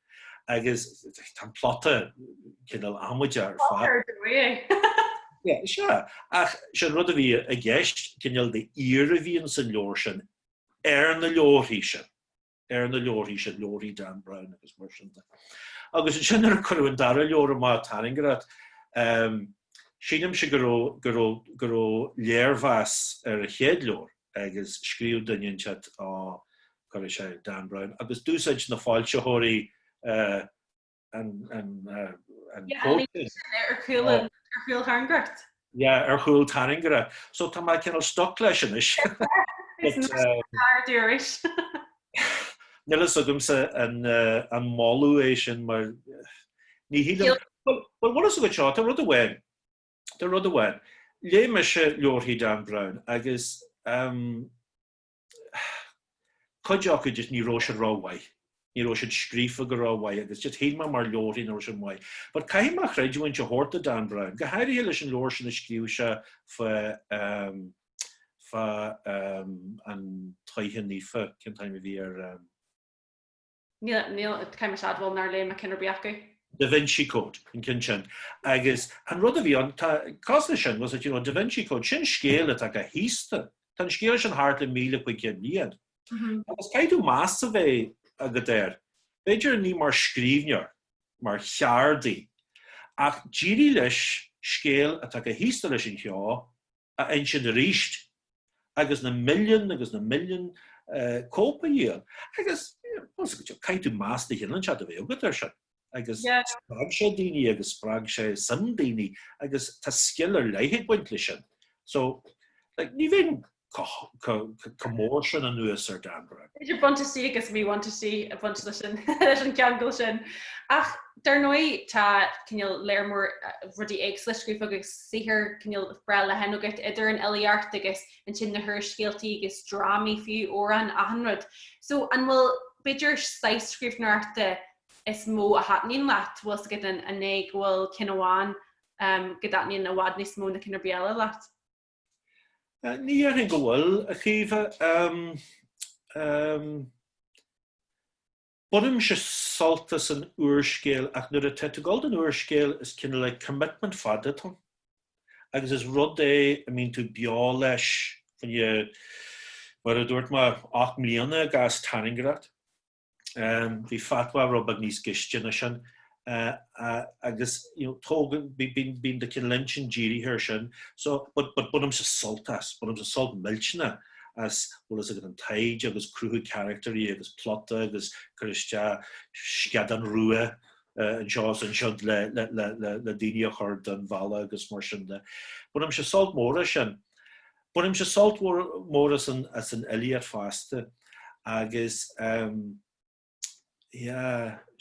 agus tá an plota cineál amaideach ar fad. Bóthar do bhí é. Yeah, sea, ach sé an rud a bhí i gceist, cineál de fhíor a bhíonn san leabhar sin ar na leabharthaí sin, ar na leabharthaí sin, leabharthaí Dan Brown agus mar sin de. Agus ansin nuair a cuireadh an dara leabhar amach, Tairngreacht, ehm, sílimse go raibh, go raibh, go raibh léirmheas ar an chéad leabhar agus scríobh duine inteacht á, Coimisinéir Dan Brown, agus d'úsáid na foilsitheoirí an quote sin. Ar chúl Tairngreacht. Yeah, ar chúl Tairngreacht. So tá mé cineál stuck leis anois. Is fearr di arís. Níl fhios agamsa an moladh é sin mar ní shílim. Bhuel, bhfuil fhios agat seo, tá rud amháin, tá rud amháin. Léigh mise leabharthaí Dan Brown agus cuid acu just ní raibh siad ró mhaith. Ní raibh siad scríofa go ró mhaith agus just shíl mé mar leabharthaí nach raibh siad maith. But caithfidh mé creidiúint a thabhairt do Dan Brown, go háirithe leis an leabhar sin a scríobh sé fá um, fá um, an tSoitheach Naofa, cén t-ainm a bhí air um, Níl, níl, caithfidh mise a admháil nár léigh mé ceann ar bith acu. Da Vinci Code, an ceann sin. Agus an rud a bhí ann, tá cás leis sin, was it, you know, Da Vinci Code, sin scéal atá chomh haosta. Tá an scéal sin thart le míle cúig chéad bliain. Agus caithfidh tú meas a bheith agat air, b'fhéidir ní mar scríbhneoir, mar cheardaí, ach d'éirigh leis scéal atá chomh haosta leis an cheo, a insint arís, agus na milliúin agus na milliúin cóip a dhíol, agus, bhuel, caithfidh tú meas de chineál inteacht a bheith agat air sin, agus spreag sé daoine agus spreag sé suim daoine, agus tá scil ar leith ag baint leis sin. So, like, ní bheinn chomh mór sin anuas ar Dan Brown. B'fhéidir buntáistí agus míbhuntáistí ag baint leis an ceangal sin. Ach Dar ndóigh, tá, cineál, lear mór rudaí éagsúla scríofa agat, saothar, cineál, breá leathan agat, idir an fhilíocht agus ansin na húrscéaltaí agus drámaí fiú, amhráin, achan rud. So, an bhfuil, b'fhéidir, saghas scríbhneoireachta is mó a thaitníonn leat? Bhfuil 's agat an, an é go bhfuil ceann amháin go dtaitníonn i bhfad níos mó ná ceann ar bith eile leat? Ní dhéarfainn go bhfuil, a Chaoimhe. Bainimse sult as an úrscéal ach nuair atá tú ag dul den úrscéal is cineál like commitment fada atá ann agus is rud é a mbíonn tú beo leis faoi mar a dúirt mé ocht mbliana i gcás Tairngreacht. Bhí Fatwa rud beag níos gaiste ná sin agus you know tógann bíonn bíonn do chineál intinn dírithe ar sin so but but bainimse sult as, bainimse sult millteanna as bhfuil fhios agat an taighde agus cruthú carachtairí agus plota agus cur isteach scadán rua anseo is ansiud le le le le le daoine a chur den bhealach agus mar sin de. Bainimse sult mór as sin. Bainimse sult mór mór as an as an fhilíocht fosta agus ehm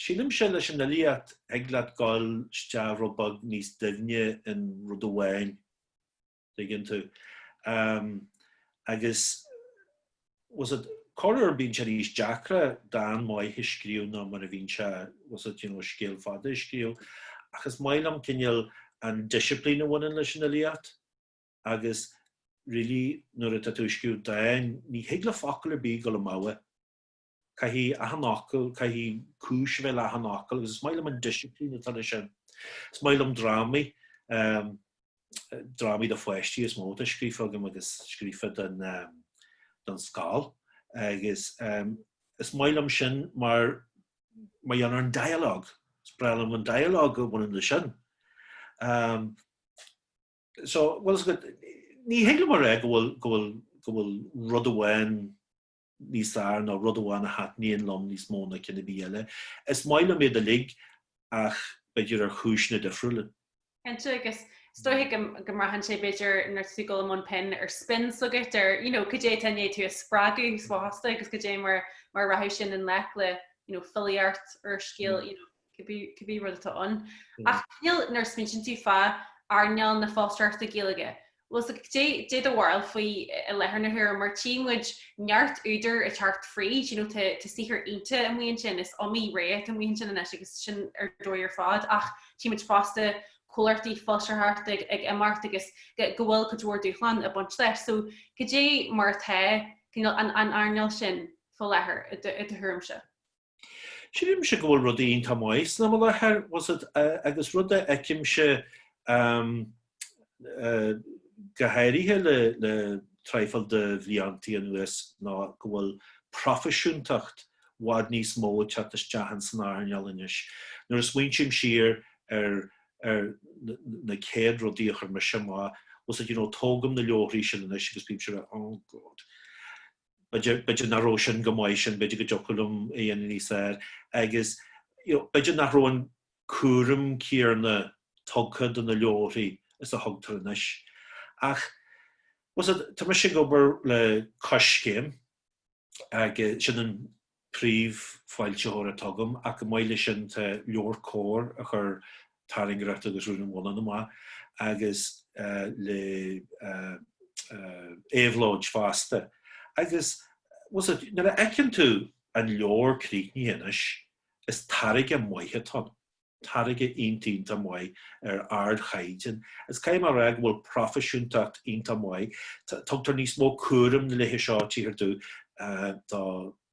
Sílimse leis an fhilíocht, thig leat gabháil isteach rud beag níos doimhne in rud amháin, tuigeann tú. Agus tá a fhios agat corruair bíonn sé níos deacra dán maith a scríobh ná mar a bhíonn sé, tá a fhios agat, you know, scéal fada a scríobh. Ach is maith liom cineál an disciplín a bhaineann leis an fhilíocht agus really nuair atá tú ag scríobh dán ní thig le focal ar bith gabháil amú. Caithfidh achan fhocal, caithfidh cúis a bheith le achan fhocal agus is maith liom an disciplín atá leis sin. Is maith liom drámaí, drámaí do pháistí is mó atá scríofa agam agus scríofa don, don scoil agus is maith liom sin mar mar gheall ar an dialogue, is breá liom an dialogue a bhaineann leis sin. So, bhuel is, ní thig liom a rá go bhfuil, go bhfuil, go bhfuil rud amháin níos fearr ná rud amháin a thaitníonn liom níos mó ná cinn ar bith eile. Is maith liom iad uilig ach b'fhéidir ar chúiseanna difriúla. Cinnte, agus is dóiche go mbraitheann sé, b'fhéidir, nuair atá tú ag dul i mbun pinn ar spin, tá a fhios agat, ar, you know, cad é atá i ndiaidh tú a spreagadh, is dócha fosta, agus cad é mar a rachadh sin i ngleic le, you know, filíocht, úrscéal, you know. cibé rud atá ann. Ach cineál nuair a smaointeann tú fá earnáil na foilsitheoireachta Gaeilge, bhuel, cad é do bharúil faoi i láthair na huaire, mar tchí muid neart údair ag teacht fríd, you know, tá saothar iontach amuigh ansin, is iomaí ré atá amuigh ansin anois agus sin ar dóigh ar fad, ach tchí muid fosta comhlachtaí foilsitheoireachta ag imeacht agus go bhfuil cuid mhór dúshlán ag baint leis. So cad é mar atá, cineál an earnáil sin faoi láthair i do thuairimse? Sílimse go bhfuil rudaí iontach maith san am i láthair tá a fhios agat agus rud a fheicimse go háirithe le le traidhfil de bhliantaí anuas ná go bhfuil proifisiúntacht bhfad níos mó ag teacht isteach in san earnáil anois. Nuair a smaointím siar ar ar na céad rudaí a chuir mise amach tá a fhios agat you know tógaim na leabharthaí sin anois agus bímse a rá oh God b'fhéidir nach raibh sin go maith sin, b'fhéidir go dtiocfadh liom a dhéanamh níos fearr agus you know b'fhéidir nach raibh an cúram céarna tugtha do na leabharthaí is a thugtar anois. Ach tá mise ag obair le Coiscéim agus sin an. príomhfhoilsitheoir atá agam, ach chomh maith leis sin tá LeabhairCOMHAR a chuir Tairngreacht agus Rún an Bhonnáin amach, agus le Éabhlóid fosta. Agus bhfuil 's agat, nuair a fheiceann tú an leabhar críochnaithe anois, is táirge maith atá ann. táirge iontach maith ar ardchaighdeán. Is caithfidh mé a rá go bhfuil proifisiúntacht iontach maith. Tugtar níos mó cúraim na laetha seo, títhear domh, do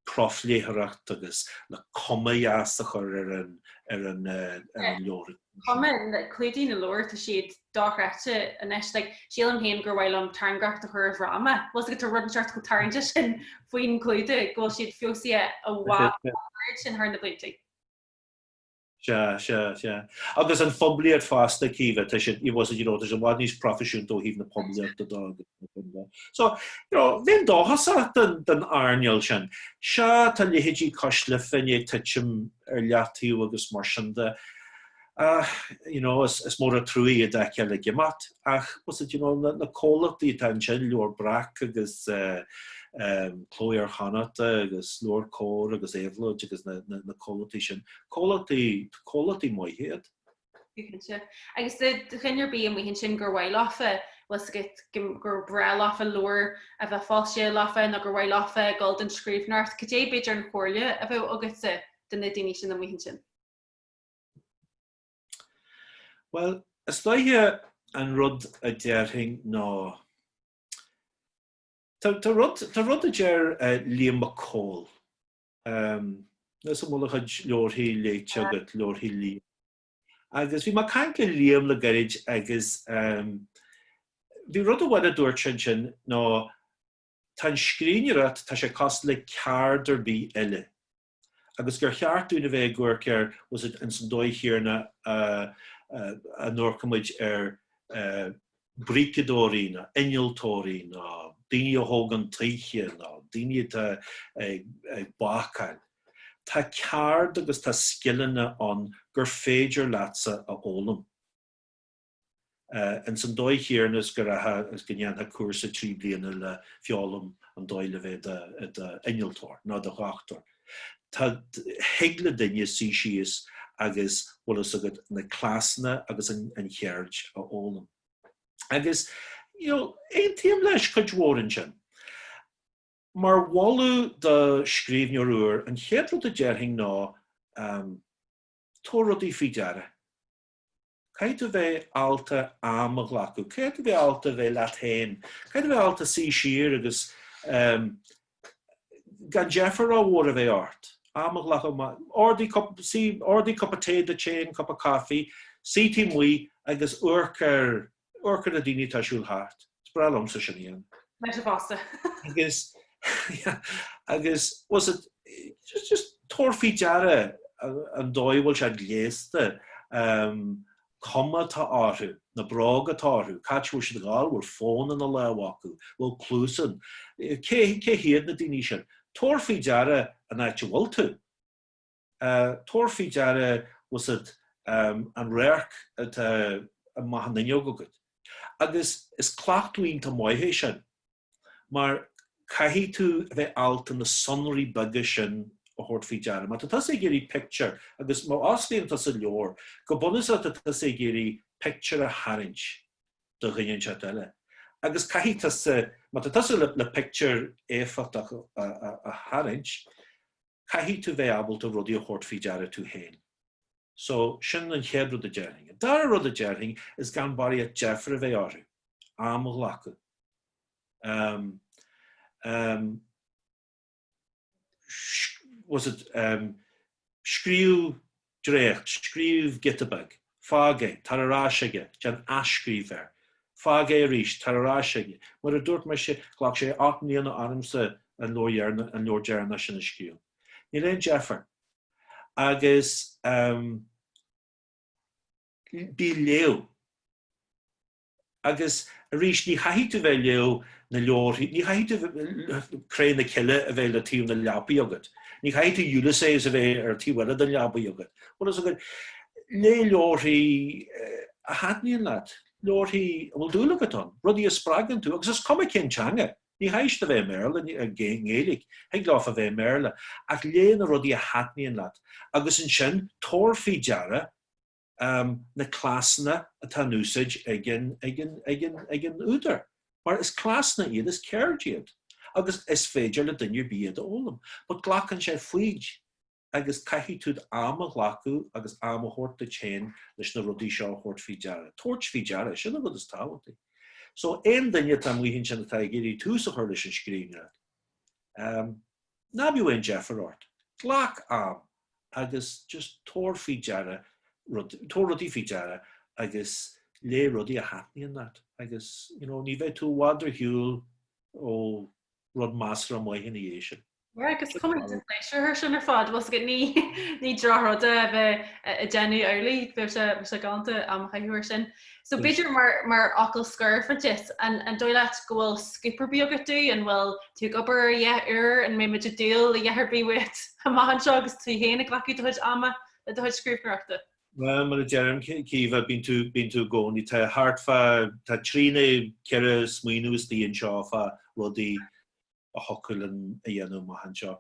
phrofléitheoireacht agus le cuma dheas a chur ar an leabhar. Cuma, clúdaigh na leabhar, tá siad dochreidte anois. Like, sílim féin gur mhaith liom Tairngreacht a chur i bhfráma. Bhfuil 's agat, tá rud inteacht chomh tarraingteach sin faoin chlúdach go bhfuil siad feabhsaithe an oiread sin thar na bliantaí. Sea, sea, sea. Agus an phoiblíocht fosta, Caoimhe, tá siad, you know, tá siad i bhfad níos proifisiúnta ó thaobh na poiblíochta de agus mar sin de. So, you know, bheadh dóchas ort san earnáil sin. Sea, tá leithéidí Cois Life i ndiaidh titim ar leathtaobh agus mar sin de. Ach, you know, is mór an truaighe iad a fheiceáil ag imeacht. Ach na comhlachtaí atá ansin, Leabhar Breac agus Cló Iar-Chonnachta agus LeabhairCOMHAR agus Éabhlóid agus na comhlachtaí sin, comhlachtaí maithe iad. Cinnte. Agus do dhuine ar bith amuigh ansin, gur mhaith leofa, bhfuil 's agat, gur breá leofa leabhar a bheith foilsithe leofa nó gur mhaith leofa dul den scríbhneoireacht, cad é, b'fhéidir, an chomhairle a bheadh agatsa do na daoine sin amuigh ansin? Bhuel, is dóiche an rud a déarfainn ná, tá rud, tá rud a deir Liam Mac Cóil, níl 's agam an bhfuil a chuid leabharthaí léite agat, leabharthaí Liam. Agus bhí mé ag caint le Liam le gairid agus bhí rud amháin a dúirt seisean ná, tá an scríbhneoireacht, tá sé cosúil le ceard ar bith eile. agus gur cheart dúinn a bheith ag amharc air ins an dóigh chéanna a n-amharcaimid ar bríceadóirí ná innealtóirí ná daoine a thógann toithe ná daoine atá ag bácáil. Tá ceard agus tá scileanna ann gur féidir leatsa a fhoghlaim. Ins an dóigh chéanna is go rachfá is go ndéanfá cúrsa trí bliana le feoghlaim an dóigh le bheith i do innealtóir nó i do dhochtúir, tá, thig le duine suí síos agus, bhfuil fhios agat, na cleasanna agus an cheird a fhoghlaim. Agus, you know, aontaím leis, cuid mhór ansin. Mar mholadh do scríbhneoir úr, an chéad rud a déarfainn ná, tabhair rudaí faoi deara. Caithfidh tú bheith ábalta am a ghlacadh, caithfidh tú bheith ábalta bheith leat féin, caithfidh tú bheith ábalta suí siar agus ehm gan deifir rómhór a bheith ort, am a ghlacadh maith, ordaigh cup, suí, ordaigh cupa tae duit féin, cupa coffee, suí taobh amuigh agus amharc ar Amharc ar na daoine atá ag siúl thart. Is breá liomsa sin a dhéanamh. Leis na bosa. Agus, agus, bhuel, so, just, just tabhair faoi deara an dóigh a bhfuil siad gléasta, an cuma atá orthu, na bróga atá orthu, cá háit a bhfuil siad ag dul, bhfuil fón ina lámh acu, bhfuil cluasáin, cé, cé hiad na daoine sin? Tabhair faoi deara an áit a bhfuil tú. Tabhair faoi deara fiú an radharc atá amach an fhuinneog agat, agus is cleachtadh iontach maith é sin, mar caithfidh tú a bheith ábalta na sonraí beaga sin a thabhairt faoi deara. Má tá tusa ag iarraidh pictiúr, agus má osclaíonn tusa leabhar, go bunúsach tá tusa ag iarraidh pictiúr a tharraingt do dhuine inteacht eile, agus caithfidh tusa, má tá tusa le pictiúr éifeachtach a tharraingt, caithfidh tú bheith ábalta rudaí a thabhairt faoi deara tú féin. So, sin an chéad rud a déarfainn. An dara rud a déarfainn, is gan barraíocht deifir a bheith ort, am a ghlacadh. Um, um, was it um, scríú dréacht, scríobh giota beag, fág é, tar ar ais aige, déan athscríobh air, fág é arís, tar ar ais aige. Mar a dúirt mise, ghlac sé ocht mbliana ormsa an leabhar deireanach sin a scríobh. Níl aon deifir. Agus bí ag léamh. Agus arís, ní chaithfidh tú bheith ag léamh na leabharthaí, ní chaithfidh tú Cré na Cille a bheith le taobh na leapaí agat, ní chaithfidh tú Ulysses a bheith ar an taobh eile den leabaidh agat. Bhfuil fhios agat, léigh leabharthaí a thaitníonn leat, leabharthaí a bhfuil dúil agat ann, rudaí a spreagann tú, agus is cuma cén teanga, ní chaithfidh siad a bheith i mBéarla, i nGaeilge, thig leofa bheith i mBéarla, ach léigh na rudaí a thaitníonn leat, agus ansin, tabhair faoi deara, na cleasanna atá in úsáid ag an údar, mar is cleasanna iad, is ceird iad, agus is féidir le duine ar bith iad a fhoghlaim. But glacann sé foighid, agus caithfidh tú d'am a ghlacadh agus am a thabhairt duit féin leis na rudaí seo a thabhairt faoi deara. Tabhairt faoi deara, sin an rud is tábhachtaí. So, aon duine atá amuigh ansin atá ag iarraidh tús a chur leis an scríbhneoireacht, Ná bíodh aon deifir ort. Glac am agus just tabhair faoi deara rud, tabhair rudaí faoi deara agus léigh rudaí a thaitníonn leat agus, you know, ní bheidh tú i bhfad ar shiúl ó rud measartha maith ina dhiaidh sin. Sea, agus go mbaine tú pléisiúr as sin ar fad. Bhuel, tá a fhios agat ní, ní droch-rud é a bheith, a, ag déanamh amhlaidh. Bheadh sé, bheadh sé galánta am a chaitheamh air sin. So b'fhéidir mar, mar fhocal scoir for dit, an, an dóigh leat go bhfuil scoop ar bith agat dúinn, an bhfuil tú ag obair ar a dhath úr, an mbeidh muid ag dúil le a dhath ar bith uait amach anseo agus tú féin ag glacadh do chuid ama le do chuid scríbhneoireachta? Bhuel, mar a deirim, Caoimhe, bíonn tú, bíonn tú i gcónaí, tá thart fá, tá trí nó ceithre smaoineamh istigh anseo fá rudaí, a thiocfadh linn a dhéanamh amach anseo.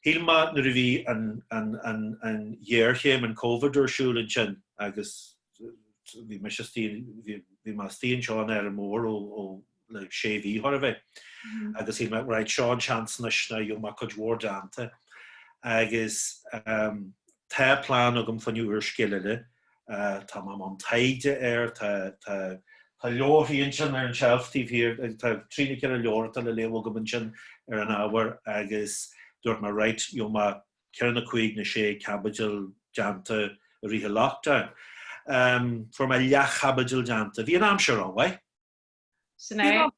Shíl mé nuair a bhí an ghéarchéim, an Covid, ar siúl ansin agus bhí mise istigh, bhí mé istigh anseo in Árainn Mhór ó le sé mhí chóir a bheith mm-hmm. agus shíl mé right seo an seans anois ná gheobhaidh mé cuid mhór déanta agus um, Tá plean agam fá choinne úrscéal eile. Tá mé i mbun taighde air. Tá leabharthaí ansin ar an tseilf taobh thiar, tá trí nó ceithre leabhar atá le léamh agam ansin ar an ábhar agus dúirt mé, right, gheobhaidh mé ceithre nó cúig nó sé caibidil déanta i rith an lockdown. Fuair mé leathchaibidil déanta. Bhí an aimsir rómhaith. Sin é.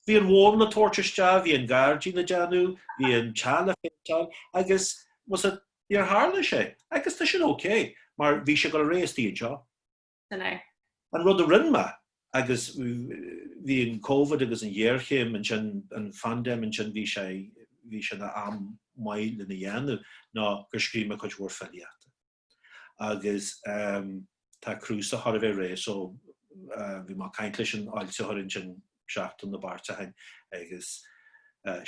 Bhí an mhóin le tabhairt isteach, bhí an gairdín le déanamh, bhí an teach le péinteáil agus, muise, níor tharla sé. Agus tá sin ok, mar bhí sé ag dul ar aghaidh istigh anseo. Sin é. An rud a rinne mé, agus bhí an Covid agus an ghéarchéim ansin, an phaindéim ansin, bhí sé, bhí sé ina am maith lena dhéanamh, ná gur scríobh mé cuid mhór filíochta. agus tá cnuasach chóir a bheith réidh so bhí mé ag caint leis an fhoilsitheoir ansin seachtain nó beirt ó shin agus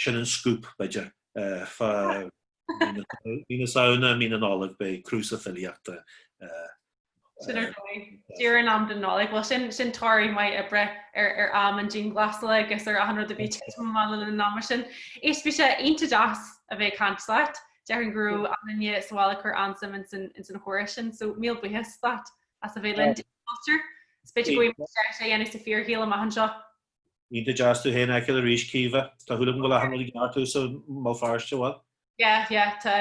sin an scoop b'fhéidir fá mhí na Samhna mí na Nollag beidh cnuasach filíochta Sin ar dóigh. Díreach in am don Nollaig. Bhuel sin sin toradh maith oibre ar ar am an dianghlasála agus ar achan rud a bhí ag titim amach le linn an ama sin. Is bhí sé iontach deas a bheith ag caint leat. Déarfainn go raibh achan duine sa bhaile ag cur an-suim ins an chomhrá sin, so míle buíochas leat as a bheith linn. Diabhal cultúr. Is féidir go bhfuil straitéis a dhéanamh sa fíorshaol amach anseo. Iontach deas tú féin a fheiceáil arís Caoimhe. Tá súil agam go bhfuil achan rud i gceart thuas i mBéal Feirste, bhfuil? Yeah, yeah, tá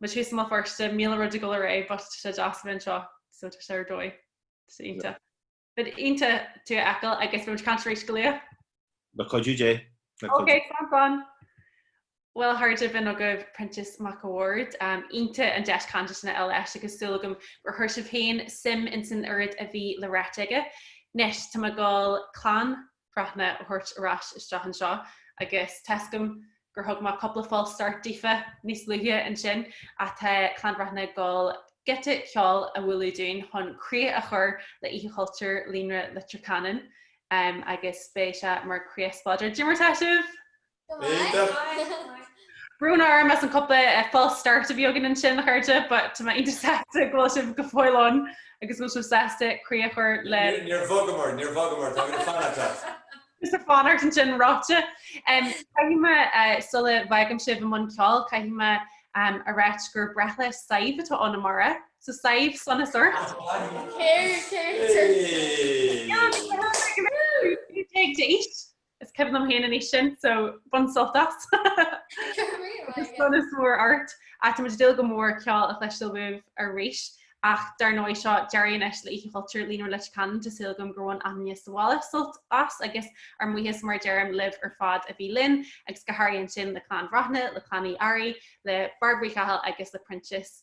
muid thuas i mBéal Feirste, míle rud ag dul ar aghaidh, but tá sé deas a bheith anseo, so tá sé ar dóigh. Tá sé iontach. But iontach tú a fheiceáil agus beidh muid ag caint arís go luath le cuidiú Dé. Ok, slán slán. Bhuel a chairde b'in agaibh Proinsias Mac a Bhaird. Um, iontach an deis cainte sin a fháil leis agus súil agam gur chuir sibh féin suim ins an oiread a bhí le ráit aige. Anois, tá mé ag goil Clann Bhreathnaigh a thabhairt ar ais isteach anseo agus tá a fhios agam gur thug mé cúpla false start daofa níos luaithe ansin ach tá Clann Bhreathnaigh ag dul giota ceoil a bhualadh dúinn chun críoch a chur le Oíche Chultúir Líonra Leitir Ceanainn agus beidh sé mar chríoch spleodrach. Caidé mar tá sibh! B'fhéidir. Brón orm as an cúpla false start a bhí againn ansin, a chairde, but tá mé iontach sásta go bhfuil sibh go fóill ann agus go bhfuil sibh sásta críoch a chur le. Níor bhogamar, níor bhogamar, tá mé ag fanacht leat. Is ag fanacht ansin ráite. Caithfidh mé, sula bhfágaim sibh i mbun ceoil, caithfidh mé a ráit gur breithlá Sadhbh atá ann amárach, so Sadhbh sonas ort. Céard, céard, céard. Céard a bheidh ag éisteacht? Is cuimhin liom féin an aois sin, so bain sult as! Is sonas mór ort. Tá muid ag dúil go mór ceol a chloisteáil uaibh arís, ach dar ndóigh seo deireadh anois le Oíche Chultúir Líonra Leitir Ceanainn, tá súil agam gur bhain achan duine sa bhaile sult as agus ár mbuíochas mar a deirim libh ar fad a bhí linn agus go háirithe ansin le Clann Bhreathnaigh, le Clann Uí Fhearraigh, le Bairbre Uí Chathail agus le Proinsias.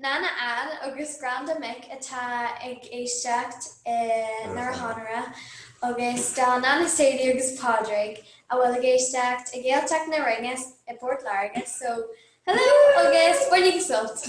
Nana Ann agus Granda Mick atá ag éisteacht i nDoire Chonaire agus do Nana Sadie agus Pádraig a bhfuil ag éisteacht i Gaeltacht na Rinne i bPort Láirge. So, hello agus bainíg sult!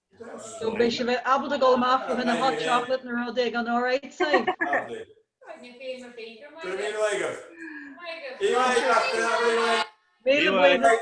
So beidh sibh ábalta dul amach fá choinne hot chocolate nó rud éigin alright Sadhbh. Míle buíochas. Míle buíochas.